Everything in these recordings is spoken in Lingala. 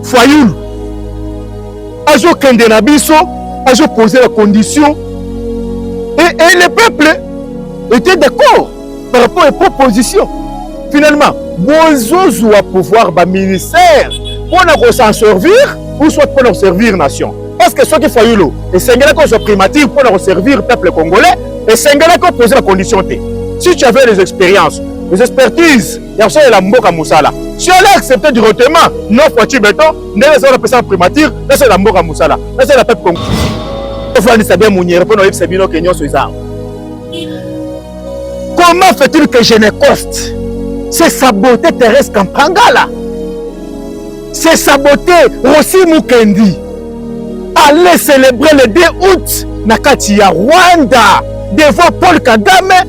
Fayulu azokende na biso azopoze la condition et, et le peuple était d'accord par rapport à proposition finalement bozozwa pouvoir baministère mpo na kosan servir ou soit mpo na koservir nation parce que soki fayulu esengelaki ozwa primature mpo na koservir peuple congolais esengelaki opoze la condition te si tu avais les expériences les expertises ya kosalela mboka mosala si elle accepte directement l'offre tu beton ndenge ezala napesa primature nasalela mboka mosala nasalela pepe congo ofandisa bien monyere mpo na oyebisa bino ke nyonso eza comment fait-il que je ne coste c'est sabote Thérèse Kampangala c'est sabote Rossi Mukendi allez célébrer le 2 août na kati ya Rwanda devant Paul Kagame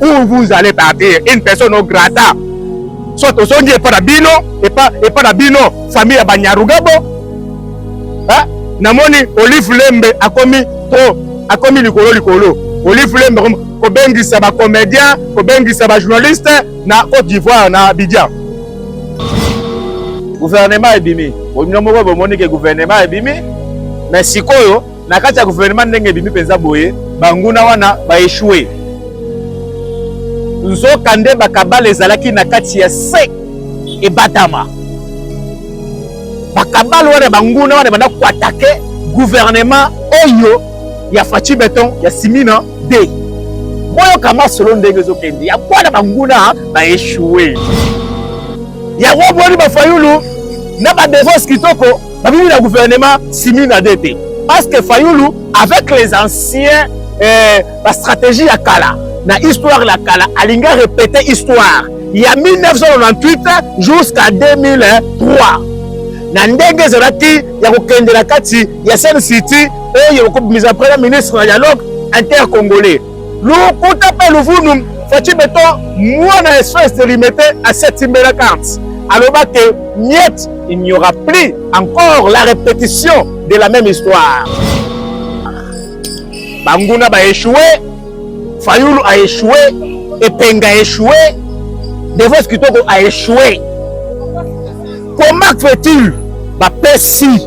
où vous allez partir une personne non grata soit tozongi epa na bino epa, epa na bino famille ya banyarugabo eh? namoni olive lembe akomi trop akomi likolo likolo olive lembe akomi kobengisa bacomédien kobengisa bajournaliste na cote d'ivoire na abidjan gouvernement ebimi bino moko bomoni ke gouvernement ebimi mais sikoyo na kati ya guvernema ndenge ebimi mpenza boye, banguna wana baeshue. Nzoka nde bakabale ezalaki na kati ya se ebatama. Bakabale wana banguna wana ebanda koatake guvernema oyo ya Fatshi Beton ya Simina de boyoka masolo ndenge ezokende ya bwana banguna baeshue. Yango boni bafayulu na badevose kitoko babimi na gouvernement simi na de te parce que fayulu avec les anciens eh, bastratégie ya kala na histoire ya kala alingi arepete histoire ya 1998 jusqu'à 2003 na ndenge ezalaki ya kokende na kati ya seine city oyo ekobimisa premier ministre na dialogue intercongolais Lukuta pe luvunu Fatshi Beton mwana espèce de limete asetimbela carte aloba que miette il n'y aura plus encore la répétition de la même histoire. Banguna ba échoué, Fayulu a échoué, Epenga a échoué, Devos Kitoko a échoué. Comment fait-il bapesi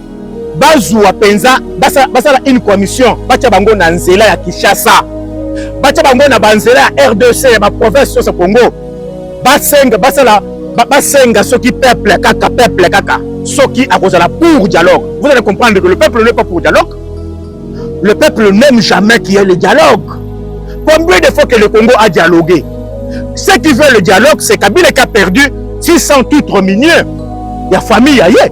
bazua penza basala, basala une commission batia bango na nzela ya Kinshasa batia bango na banzela ya RDC ya ba province nyonso Congo basenga basala basenga soki peuple kaka peuple kaka soki akozala pour dialogue vous allez comprendre que le peuple n'est pas pour dialogue le peuple n'aime jamais qu'il y ait le dialogue combien de fois que le Congo a dialogué ceux qui veulent le dialogue c'est Kabila qui a perdu 600 titres miniers ya famille ya ye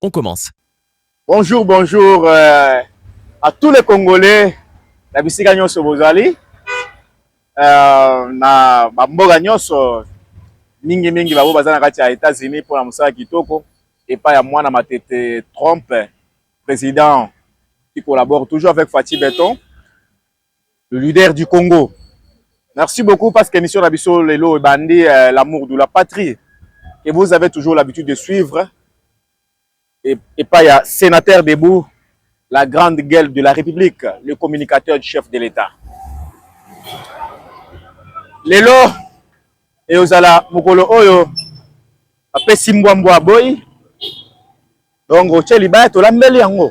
On commence. Bonjour, bonjour euh, à tous les Congolais na bisika nyonso bozali euh, na bamboka nyonso mingi mingi babo baza na kati ya États-Unis mpo na mosala kitoko epai ya mwana matete Trump président qui collabore toujours avec Fatih Beton Le leader du Congo. Merci beaucoup parce que émission Rabiso Lelo et Bandi, euh, l'amour de la patrie, que vous avez toujours l'habitude de suivre. Et, et pas ya sénateur debout, la grande gueule de la République, le communicateur du chef de l'État. Lelo, et ozala mokolo oyo, apesi mbwa mbwa boy, donc otie libaya tolambeli yango.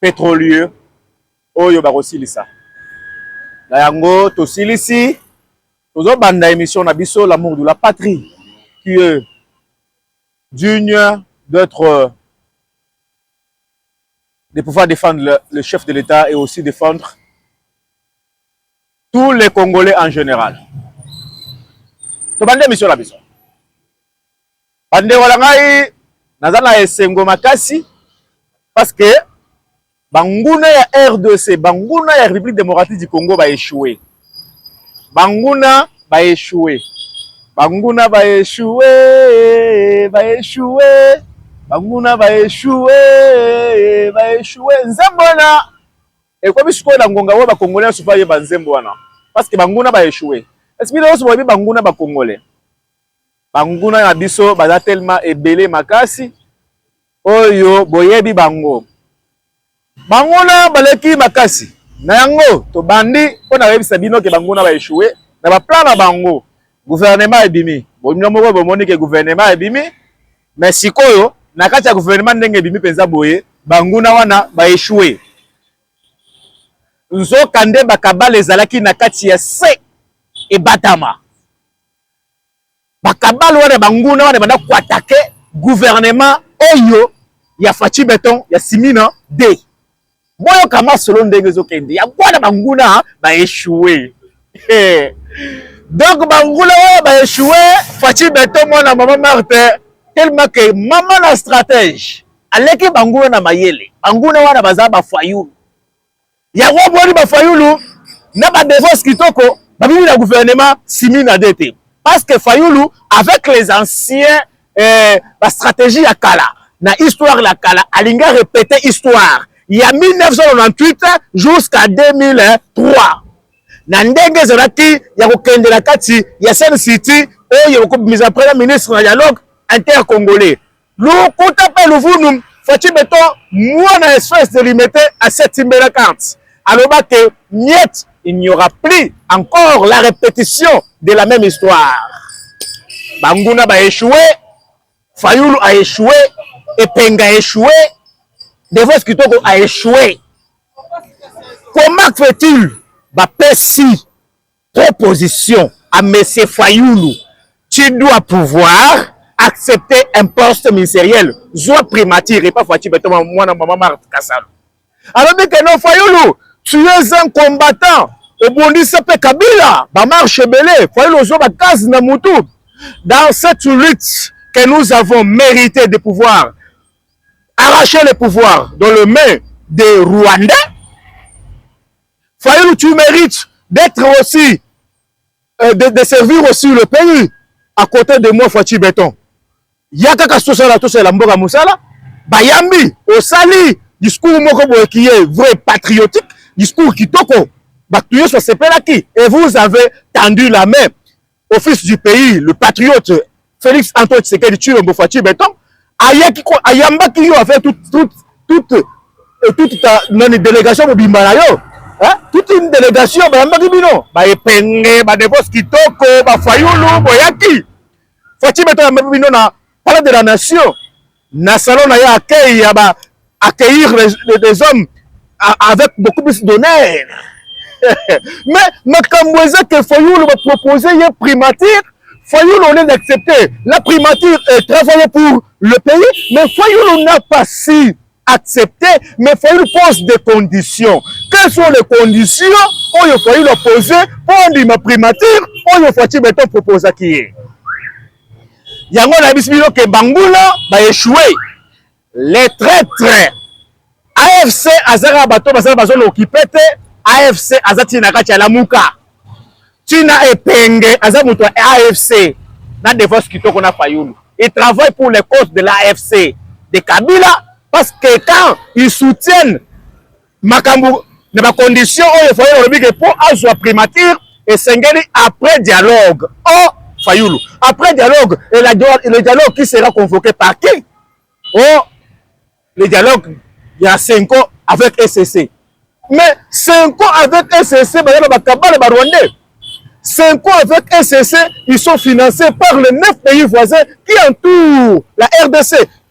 petrolieux oyo bakosilisa na yango tosilisi tozobanda emission na biso l'amour de la patrie qui est digne d'être de pouvoir défendre le, le chef de l'État et aussi défendre tous les Congolais en général. Tobande emission na biso. Bandeko na ngai, naza na esengo makasi parce que banguna ya RDC, banguna ya République démocratique du Congo ba échoué. Banguna ba échoué. Banguna ba échoué, ba échoué. Banguna ba échoué, ba échoué. Nzembo wana ekomi sikoyo na ngonga oyo ba Congolais nyonso bayeba nzembo wana parce que banguna ba échoué. Est-ce que bino nyonso boyebi banguna ba Congolais? banguna na biso baza telema ebele makasi oyo boyebi bango banguna baleki makasi na yango tobandi mpo na koyebisa bino ke banguna baeshue na baplan na bango guvernema ebimi bonino moko bomoni ke guvernema ebimi me sikoyo na kati ya guvernema ndenge ebimi mpenza boye banguna wana baeshue nzoka nde bakabala ezalaki na kati ya se ebatama bakabalo wana banguna wana banda koatake gouvernement oyo ya faci beton ya simina de boyoka masolo ndenge ezokende ya bwana banguna baechoue donc banguna oyo baechoue faci beton mwana mama marte tellement ke mama na stratège aleki banguna na mayele banguna wana baza bafayulu Yango omoni ba Fayulu na ba devos kitoko babimi na gouvernement simi na de te parce que Fayulu avec les anciens eh, ba stratégie ya kala na histoire la kala alinga répéter histoire ya 1998 jusqu'à 2003 na ndenge ezalaki ya kokende na kati ya Sun City oyo ekobimisa premier ministre na dialogue intercongolais Lokuta pe luvunu Fatshi Beton mwana espèce de limete asetimbela carte aloba que miette il n'y aura plus encore la répétition de la même histoire banguna ba échoué Fayulu a échoué Epenga a échoué Devos Kitoko a échoué comment fait-il bapesi Proposition à Monsieur Fayulu, tu dois pouvoir accepter un poste ministériel, zwa primature et pas Fatshi Beton, mwana maman Marthe Kasalu. Alors dit que non Fayulu, tu es un combattant, obondisa pe Kabila, ba marche belé, Fayulu ozwa ba case na mutu. Dans cette lutte que nous avons mérité de pouvoir arracher le pouvoir dans le main des Rwandais, Fayulu, tu merites d'être aussi, euh, de, de servir aussi le pays à côté de moi Fatshi Beton. Ya kaka sosala tosala mboka mosala, bayambi osali discours moko boye qui est vrai patriotique, discours kitoko, bato nyonso basepelaki et vous avez tendu la main. au fils du pays le patriote Félix Antoine Tshisekedi Tshilombo Fatshi Beton ayaki ko ayambaki yo avec toute toute toute euh, toute ta nani délégation mobimba na yo hein toute une délégation bayambaki bino ba epenge ba devos kitoko ba fayulu boyaki Fatshi Beton ayambaki bino na palais de la nation na salon na ye accueil ya ba accueillir des hommes avec beaucoup plus d'honneur mais makambo eza ke fayulu bapropose ye primature fayulu au lieu d'accepter la primature est travaille pour le pays mais fayulu n'a pas si accepté mais fayulu pose des conditions quelles sont les conditions oyo fayulu apose mpo andima primature oyo faci beton proposaki ye yango nayebisi bino ke banguna ba echoue les traitres afc azaka bato basala bazona okipe te afc aza ntina na kati ya lamuka ntina epenge aza moto ya afc na defense kitoko na fayulu il travaille pour les causes de l'afc de kabila parce que quand ils soutiennent makambo na ba conditions oyo Fayulu alobi ke mpo azwa primature esengeli après dialogue oh Fayulu après dialogue et la, le dialogue qui sera convoqué par qui oh le dialogue ya Senko avec ECC mais Senko avec ECC baza na bakabale ba Rwandais Senko avec ECC ils sont financés par les neuf pays voisins qui entourent la RDC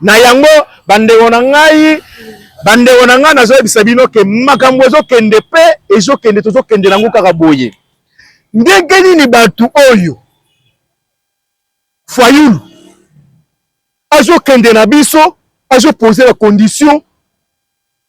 Na yango bandeko na ngai, bandeko na ngai, nazoyebisa bino ke makambo ezokende pe ezokende, tozokende na yango kaka boye. Ndenge nini bato oyo Fayulu azokende na biso, azopose ba condition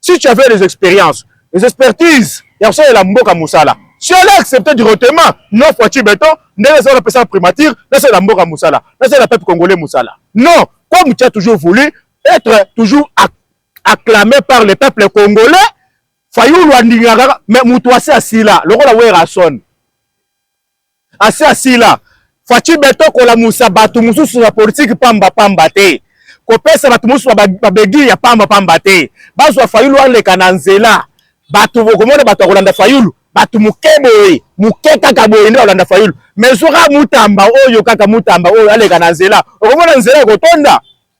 si tu avais les expériences les expertises ya kosalela mboka mosala si allais accepter directement non foiture beton ndenge ezala napesaka primature nasalela mboka mosala nasalela peuple congolais mosala non comme tu as toujours voulu être toujours acclamé par le peuple congolais fayulu andingaka mais moto asi asila lokola werrason asi asila Fatshi Beton kolamusa bato mosusu na politiki pamba pamba te kopesa bato mosusu babegi ya pamba pamba te bazwa Fayulu aleka na nzela bato bokomona bato ya kolanda Fayulu bato moke boye moke kaka boye nde balanda Fayulu mais ozoka mutamba oyo kaka mutamba oyo aleka na nzela okomona nzela ekotonda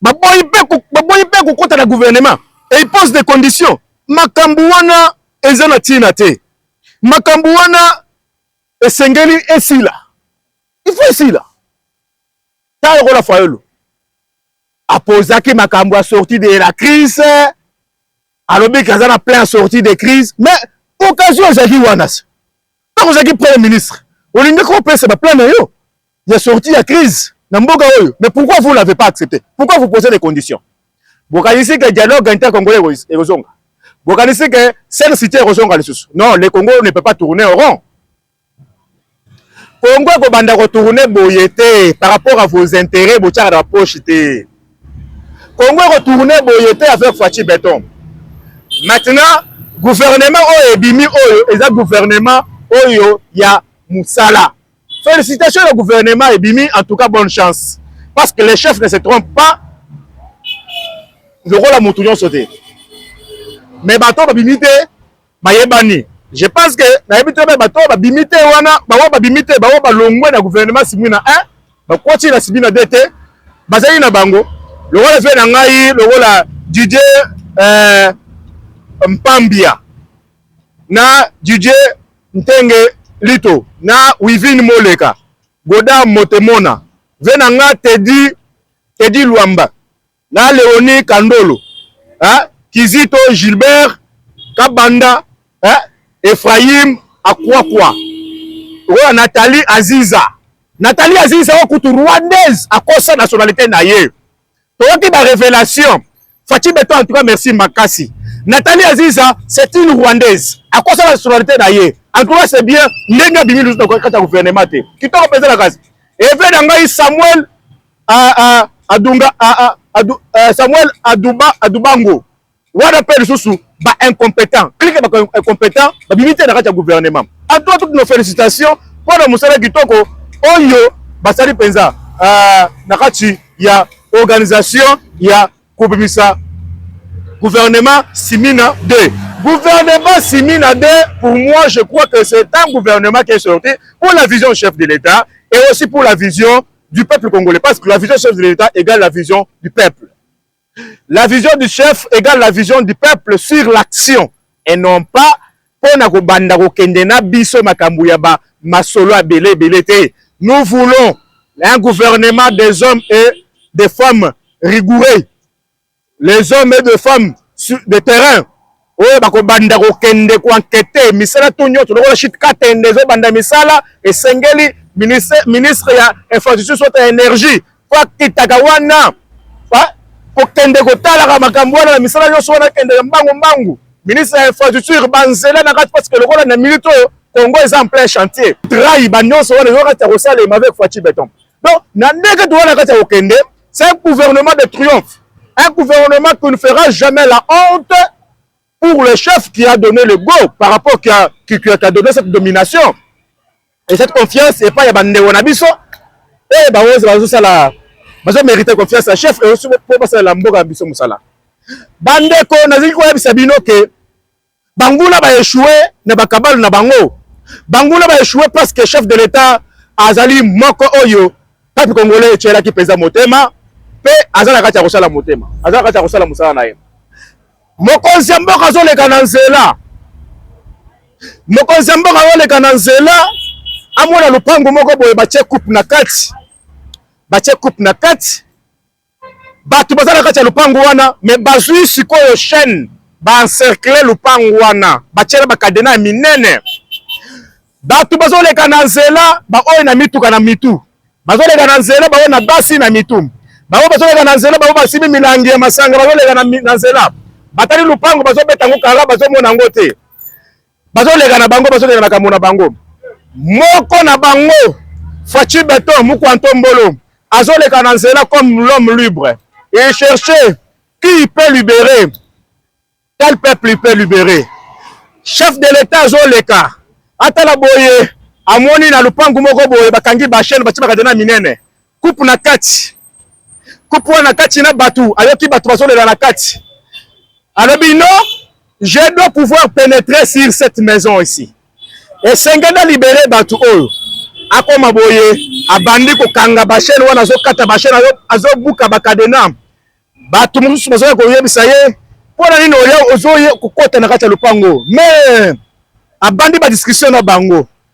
baboyi mpe baboyi mpe kokota na gouvernement et il pose des conditions makambo wana eza na ntina te makambo wana esengeli esila il faut esila ta lokola fayolo apozaki makambo ya sortie de la crise alobiki aza na plein ya sortie de crise mais occasion ezalaki wana se ntango ozalaki premier ministre olingaki opesa baplan na yo ya sortie ya crise na mboka oyo mais pourquoi vous l'avez pas accepté pourquoi vous posez des conditions bokanisi ke dialogue intercongolais ekozonga bokanisi ke sel cité ekozonga lisusu non le congo ne peut pas tourner au rond congo ekobanda kotourne boye te par rapport à vos intérêts botyaka na bapoche te Congo eko tourner boye te avec Fatshi Beton. Maintenant gouvernement oyo ebimi oyo eza gouvernement oyo ya musala. Felicitations na gouvernement ebimi en tout cas bonne chance parce que les chefs ne se trompent pas lokola mutu nyonso te mais bato babimi te Bayebani. Je pense que nayebi très bien bato oyo babimi te wana baoyo babimi te baoyo balongwe na gouvernement Simwina 1 bakoti na Simwina 2 te bazali na bango lokola vie na ngai lokola Didier euh, Mpambia na Didier Ntenge Lito na Wivine Moleka Goda Motemona vie na nga Teddy Teddy Luamba na Leonie Kandolo hein? Kizito Gilbert Kabanda hein? Ephraim Akwakwa oyo Nathalie Aziza Nathalie Aziza oyo kutu rwandaise akosa nationalité na ye toyoki ba révélation Fatshi Beton en tout cas merci makasi Nathalie Aziza c'est une rwandaise akosa nationalité na ye en tout cas c'est bien ndenge abimi lusu na kati ya gouvernement te kitoko mpenza na kasi eve na ngai Samuel ah, ah, adunga ah, ah, adu, uh, samuel aduba adubango wana mpe lisusu ba incompétent klike ba incompétent babimi te na kati ya gouvernement atua toute nos félicitations mpo na mosala kitoko oyo basali mpenza uh, na kati ya organisation ya kobimisa gouvernement simina 2 gouvernement simina 2 pour moi je crois que c'est un gouvernement qui est sorti pour la vision du chef de l'état et aussi pour la vision du peuple congolais parce que la vision chef de l'État égale la vision du peuple. La vision du chef égale la vision du peuple sur l'action et non pas mpo na kobanda kokende na biso makambo ya ba masolo abele ebele te. Nous voulons un gouvernement des hommes et des femmes rigoureux les hommes et de femmes de terrain oyo bakobanda kokende koankete misala to nyonso lokola shit katende ezobanda misala esengeli ministre, ministre ya infrastructure soit ya energie po akitaka wana kokende kotalaka makambo wana na misala nyonso wana akende ya mbangu mbangu ministre ya infrastructure banzela na kati parceke lokola na minute oyo congo eza en plein chantier trai banyonso wana ezo kati ya kosalema avec faci beton donc na ndenge towana kati ya kokende C'est un gouvernement de triomphe. Un gouvernement qui ne fera jamais la honte pour le chef qui a donné le go par rapport qui a, qui, qui a donné cette domination et cette confiance et pas ya bande wanabiso et ba ozo bazo sala bazo mériter confiance à chef et aussi pour passer la mboka biso musala bande ko naziki ko yebisa bino que banguna ba echoue na bakabale na bango banguna ba echoue parce que chef de l'etat azali moko oyo peuple congolais etyelaki mpenza motema mpe aza na kati ya kosala motema aza na kati ya kosala mosala na ye mokonzi ya mboka azoleka na nzela mokonzi ya mboka azoleka na nzela amona lopango moko boye batye coupe na kati batye coupe na kati bato baza na kati ya lupangu wana me bazwi sikoyo chaine baencercle lupangu wana batyela bakadena ya minene bato bazoleka na nzela baoyo na mituka na mitu bazoleka na nzela baoyo na basi na mitu bango bazoleka na nzela bango basimi milangi ya masanga bazoleka na nzela batali lupangu bazobeta yango kara bazomona yango te bazoleka na bango bazokende makambo na bango moko na bango faci beton mukwanto mbolo azoleka na nzela comme l'homme libre et chercher qui il peut libérer quel peuple il peut libérer chef de l'etat azoleka atala boye amoni na lupangu moko boye bakangi ba chaîne batie bakadena minene coupe na kati coupe wana kati na bato ayoki bato bazolela na kati alobi no je dois pouvoir pénétrer sur cette maison ici esengeli na libere bato oyo akoma boye abandi kokanga bashene wana azokata bashene azobuka bakadena bato mosusu bazoya koyebisa ye mpo na nini oya ozoye kokota na kati ya lopango mais abandi badiskussion na bango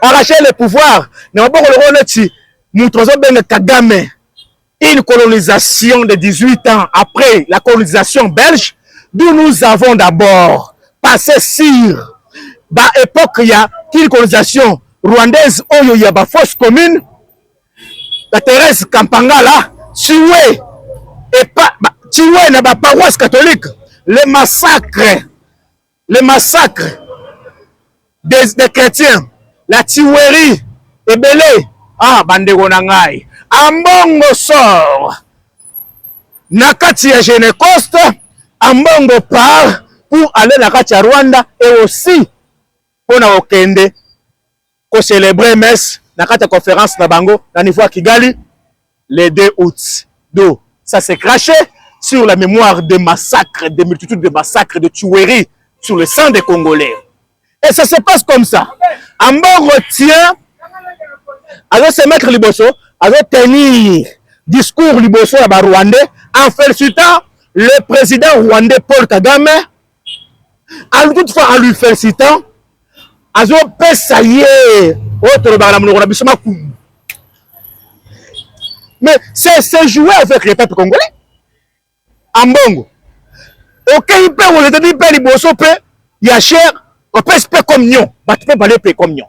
arracher le pouvoir na maboko lokola neti moto bazobenga kagame une colonisation de 18 ans après la colonisation belge d'où nous avons d'abord passé sur ba époque ya kini colonisation rwandaise oyo ya ba fausse commune la Thérèse Kampangala tué et pas tué na ba paroisse catholique le massacre le massacre des, des chrétiens la tuerie ebele ah bandeko na ngai ambongo sort na kati ya genecoste ambongo part pour aller na kati ya rwanda et aussi mpo na kokende ko celebrer messe na kati ya conférence na bango na niveau ya Kigali le 2 août. Donc ça s'est craché sur la mémoire des massacres, des multitudes de massacres, de tueries sur le sang des Congolais. Et ça se passe comme ça. Ambongo tient azo se mettre liboso, azo tenir discours liboso ya ba Rwandais en félicitant le président rwandais Paul Kagame en toute fois en lui felicitant azopesa ye oyo tolobaka na monoko na biso makumbu mais c'est se jouer avec le peuple congolais ambongo okeyi mpe oletadi mpe liboso mpe ya cher opesi mpe communion bato mpe bale mpe communion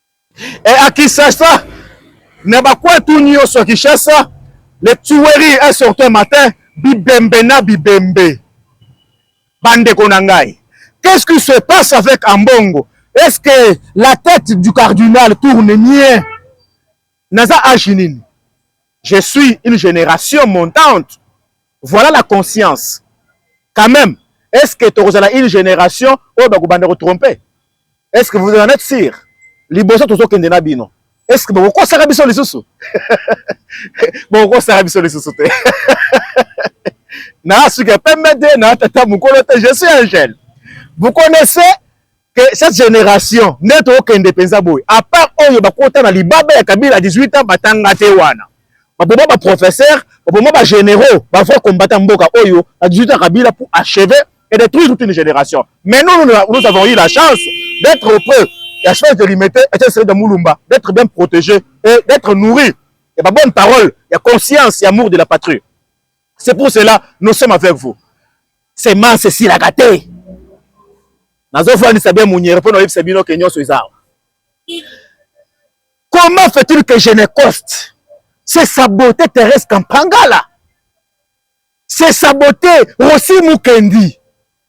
Et à Kinshasa, na ba coin tout nioso à Kinshasa, les tueries un certain matin, bibembe na bibembe. Bande Konangai. Qu'est-ce qui se passe avec Ambongo? Est-ce que la tête du cardinal tourne bien? naza age nini je suis une génération montante voilà la conscience quand même est ce que tokozala une génération oyo bakobanda kotrompe est ce que vous en êtes sûr liboso tozokende na bino est ce que bokokosaka biso lisusu bokokosaka biso lisusu te na suka pembe te na tata mokolo te je suis un jeune vous connaissez que cette generation nde tokende penza boye à part oyo bakota na libaba ya Kabila 18 ans batanga te wana baboma ba professeur baboma ba généraux ba vrai combattant mboka oyo na 18 ans Kabila pour achever et détruire toute une génération mais nous nous, nous avons eu la chance d'être auprès ya chef de limete et de Mulumba d'être bien protégé et d'être nourri et ba bonne parole ya conscience ya amour de la patrie c'est pour cela nous sommes avec vous semence esilaka te nazofandisa bien munyere mpo naoyebisa bino ke nyonso eza awa comment fait-il que genecoste se sabote therese kampangala se sabote rosi mukendi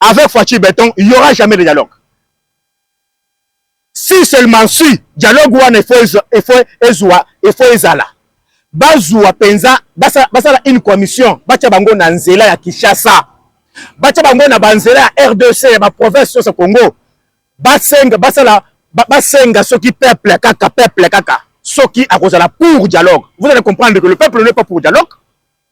avec Fatshi Beton, il n'y aura jamais de dialogue. Si seulement si, dialogue wana efo ezala. Bazua penza, basala une commission, batia bango na nzela ya Kinshasa. Batia bango na banzela ya RDC, ya ba province sur Congo. Basenga, basala, basenga soki peuple kaka, peuple kaka. Soki akozala pour dialogue. Vous allez comprendre que le peuple n'est pas pour dialogue.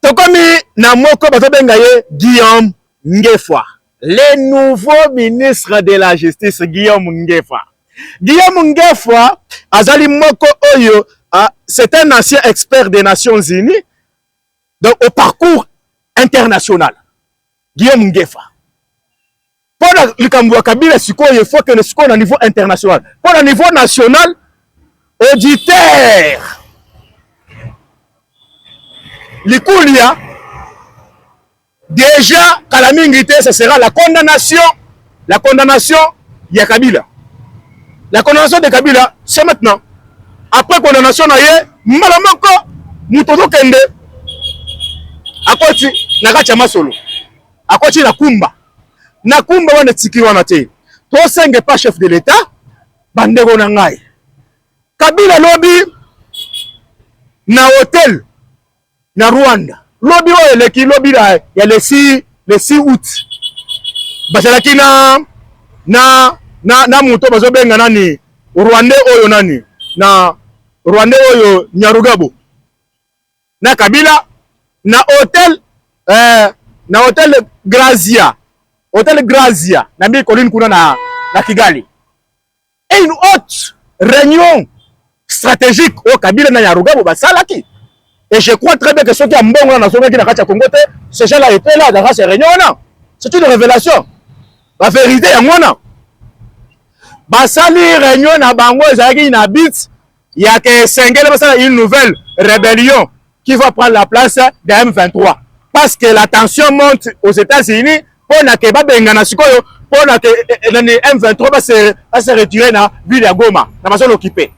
Tokomi na moko bazobenga ye Guillaume Ngefa, le nouveau ministre de la justice Guillaume Ngefa. Guillaume Ngefa azali moko oyo uh, c'est un ancien expert des Nations Unies donc au parcours international. Guillaume Ngefa mpo na likambo ya Kabila sikoyo faut que sikoyo na niveau international mpo na niveau national auditeur likulia deja kala mingi te ce sera la condamnation la condamnation ya Kabila la condamnation de Kabila c'est maintenant après condamnation na ye mbala moko moto ozokende akoti na kati ya masolo akoti na kumba na kumba wana etiki wana te tosenge pa chef de l'etat bandeko na ngai kabila lobi na hotel na rwanda lobi oyo eleki lobi ya lesi lesi out bazalaki na na na, na moto bazobenga nani rwande oyo nani na rwande oyo nyarugabo na Kabila na hotel eh, na hotel Grazia hotel Grazia na mbi colline kuna na, na Kigali et une haute réunion stratégique oyo Kabila na Yarugabo basalaki et je crois très bien que soki ya mbongo wana nazongaki na kati ya Congo te ce gens là était là dans cette réunion wana c'est une révélation ba vérité yango wana basali réunion na bango ezalaki na bit Il y a que Sengele basala une nouvelle rébellion qui va prendre la place de M23 parce que la tension monte aux États-Unis pour na que babengana sikoyo pour na que eh, eh, nani M23 ba se ba se retirer na ville ya Goma na bazo l'occuper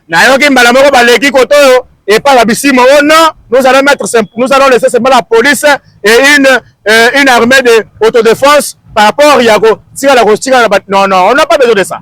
na yoki mbala moko baleki koto oyo et pas la bisimo oh non nous allons mettre nous allons laisser seulement la police et une euh, une armée de autodéfense par rapport ya ko tika la ko tika non non on n'a pas besoin de ça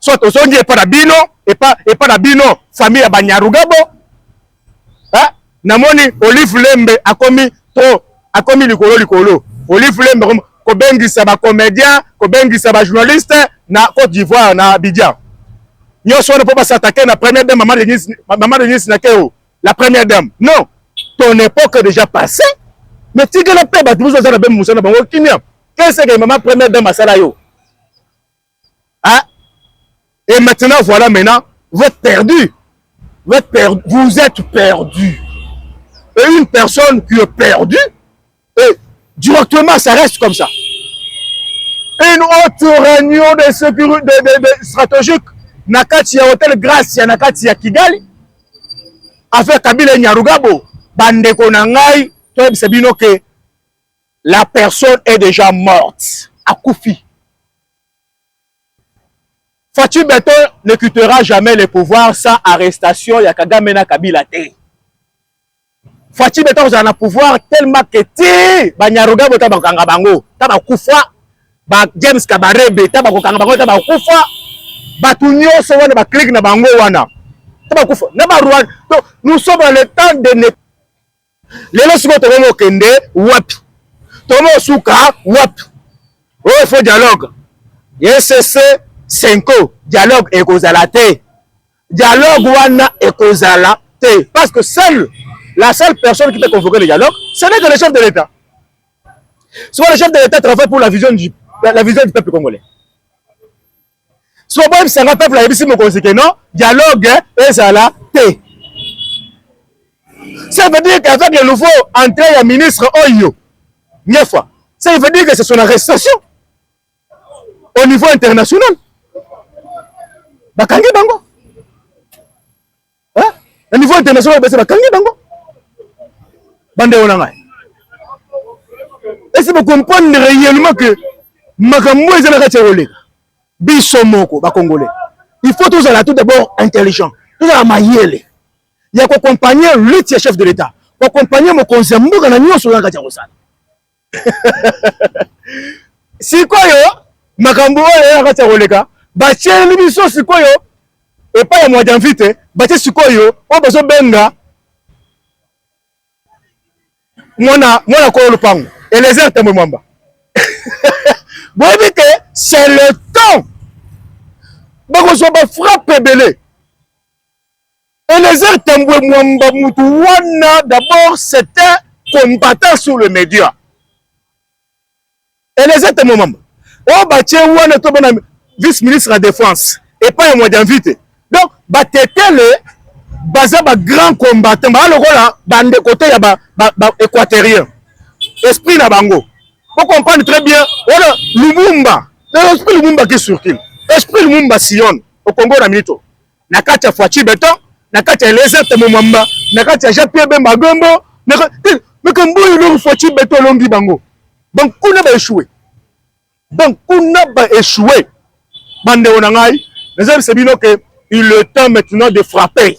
soit ozongi epa na bino epa epa na bino famille ya banyarugabo hein namoni olive lembe akomi trop akomi likolo likolo olive lembe akomi kobengisa ba comedien kobengisa ba journaliste na Côte d'Ivoire na Abidjan nyonso wana mpo basatake na première dame mama Denise mama Denise na keo la première dame non ton époque déjà passé mais tigela mpe bato mosusu baza na bembe mosala na bango kimia keseke mama première dame asala yo hein? et maintenant voilà maintenant vous êtes perdu vous êtes perdu vous êtes perdu et une personne qui est perdue et directement ça reste comme ça une autre réunion de sécurité de, de, de stratégique na kati ya hôtel Gracia na kati ya Kigali avec Kabila Nyarugabo bandeko na ngai toyebisa bino ke la personne est déjà morte akufi Fatshi Beton ne quittera jamais le pouvoir sans arrestation ya Kagame na Kabila te Fatshi Beton kozala na pouvoir tellement que ti banyaruga bota bakanga bango ta bakufa ba James Kabarebe ta bakokanga bango ta bakufa bato nyonso wana baclique na bango wana ta bakufa na barwanda nous sommes dans le temps de lelo sikoyo tokomi kokende wapi tokomi kosuka wapi oyo oh, fo dialogue ecc senko dialogue ekozala te dialogue wana ekozala te parce que seul la seule personne qui peut convoquer le dialogue ce n'est que le chef de l'état sikoyo le chef de l'état travaille pour la vision du, la vision du peuple congolais soki boyebisa nga peuple ayebisi mokonzi ke non dialogue ezala te ça veut dire qu'avec le nouveau entrée ya ministre oyo nyefa ça veut dire que c'est son arrestation au niveau international bakangi bango hein na niveau international basi bakangi bango bande ona ngai esi bo comprendre réellement que makambo eza na kati ya koleka biso moko ba congolais il faut tozala tout d'abord intelligent tozala mayele ya kokompagne lutte ya chef de l'état kokompagne mokonzi ya mboka na nyonso oyo na kati ya kosala sikoyo makambo oyo ya kati ya koleka batieli biso sikoyo epai ya mwa janvite batie sikoyo oyo bazobenga mwana mwana kolo lopango elezer tambwe mwamba boyebi te c'est le temps bakozwa bafrappe ebele Eliezer Tambwe Mwamba mutu wana d'abord c'est un combattant sur le media. Eliezer Tambwe Mwamba oyo oh, batie wana to bana vice ministre ya défense epai ya mwadi invite donc batetele baza ba grand combattant baa lokola bandeko te ya ba, ba, ba équaterien esprit na bango po comprendre très bien wana lumumba esprit lumumba ki surkile esprit lumumba sion okongo na minito na kati ya Fatshi Beton, na kati ya Eliezer Temomamba, na kati ya Jean-Pierre Bemba Gombo, na kati mais comme boy le Fatshi Beton longi bango. Donc kuna ba échoué. Donc kuna ba échoué. Bande na ngai, nazali se bino que il est temps maintenant de frapper.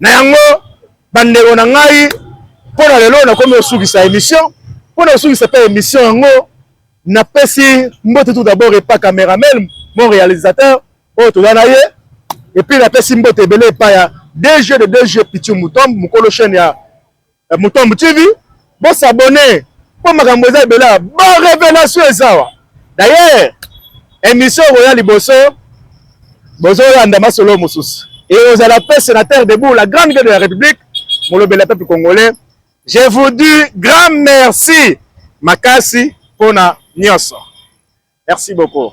Na yango bandeko na ngai, mpo na lelo nakomi kosukisa emission. Mpo na kosukisa mpe emission yango, napesi mbote tout d'abord epa cameraman mon réalisateur oyo toza na ye, epuis napesi mbote ebele epa ya DG de DG Pithieu Mutombo, mokolo chaîne ya Mutombo TV bo s'abonner mpo makambo eza ebele awa, ba revelation eza awa. D'ailleurs emission okoya liboso bozolanda masolo mosusu ekozala mpe sénateur debout la grande gueule de la République molobeli ya peuple congolais. Je vous dis grand merci makasi mpo na nyonso, merci beaucoup.